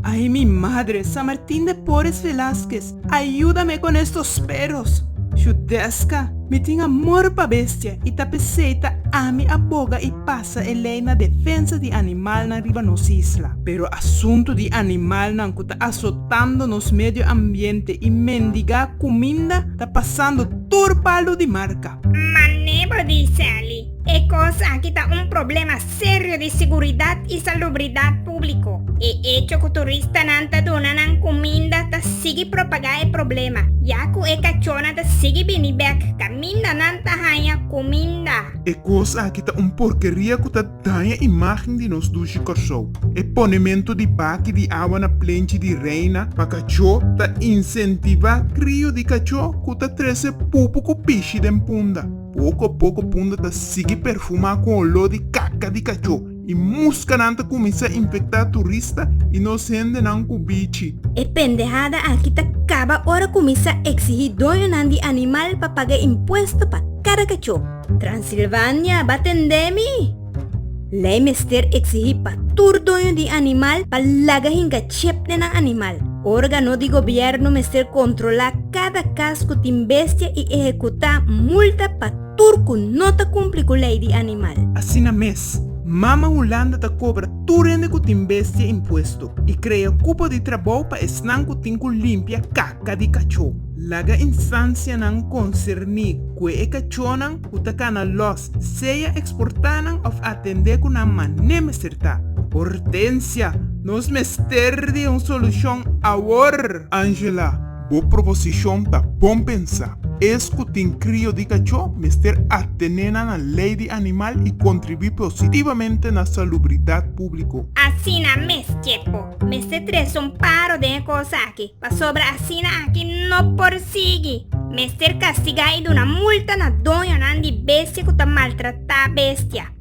Ay mi madre San Martin de Porres Velazquez ayuda me con estos perros shu desca mi tin amor pa bestia y ta pesey ta ami a boga y pasa e ley na defensa di animalnan riba nos isla pero asunto di animalnan cu ta azotando nos medio ambiente y mendiga cuminda ta pasando tur paldo di marca. Ma Nebo di Sally, e kos aki ta un problema serio di siguridat i salubridat públiko. E echo ku turistanan ta duna nan kuminda ta sigui propagá e problema, ya ku e kachónan ta sigui bini bèk kaminda nan ta haña kuminda. E kos aki ta un porkeria ku ta. Daña imágen di nos dushi Kòrsou. E ponementu di baki di awa na plenchi di Reina pa kachó ta insentivá krio di kachó ku ta trese pupu ku pishi den punda. Poko poko punda ta sigui perfumá ku oló di kaka di kachó i muskanan ta kuminsá infektá turista i nos hendenan ku bichi. E pendehada aki ta kaba ora kuminsá eksigí doñonan di animal pa paga impuesto pa kada kachó. Transilvania ba tendé mi! Lei mester eksigí pa tur doño di animal pa laga hinka chep den nan animal. Órgano di gobièrnu mester kontrolá kada kas ku tin bestia i ehekutá multa pa tur ku no ta kumpli ku lei di animal. Asina mes, Mama Hulanda ta kobra tur hende ku tin bestia impuesto i krea kupo di trabou pa esnan ku tin ku limpia kaka di kachó. Laga instansianan konserní kue e kachónan ku ta kana lòs sea eksportá nan òf atendé ku nan mané mester ta. Hortensia, Nos mester di un solushon awor! Angela, Bo proposishon ta bon pensá. Es ku tin krio di kachó mester atené na nan lei di animal i kontribuí positivamente na salubridat públiko. Asina mes, Chepo, mester trese un paro den e kos aki. Pasobra asina aki no por sigui. Mester kastigá i duna multa na doñonan di bestia ku ta maltratá bestia.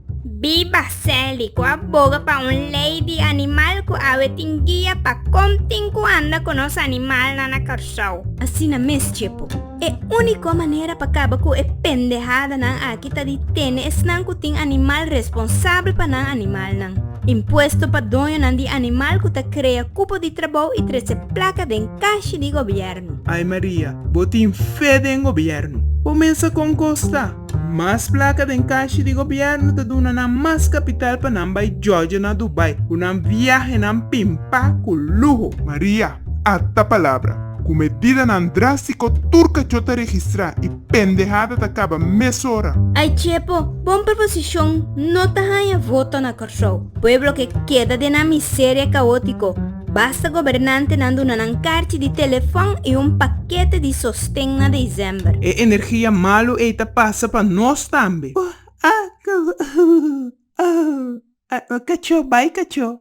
Biba Sally, ku a boga pa un lei di animal ku awe tin guia pa kon tin ku anda ku nos animalnan na Kòrsou. Asina mes, Tjepo. E úniko manera pa kaba ku e pendehadanan aki ta di tene esnan ku tin animal responsabel pa nan animalnan. Impuesto pa doñonan di animal ku ta krea kupo di trabou i trese plaka den kashi di gobièrnu. Ai Maria, bo tin fe den gobièrnu. Bo mester kon kosta. Mas plaka den kashi di gobièrnu ta duna nan mas kapital pa nan bai jòjò na Dubai, ku nan viahenan pimpá ku luho. Maria, Ata palabra, ku medidanan drástiko tur kachó ta registrá i pendehada ta kaba mesora. Ai chepo, bon proposishon no ta haña voto na Kòrsou. Pueblo ke keda den nan miseria kaótiko, basta gobernantenan duna nan karchi di telefòn i un pakete di sosten na desèmber. E energia malu ei ta pasa pa nos tambe. Bo a go, oh, oh, oh, oh, kachó bai kachó.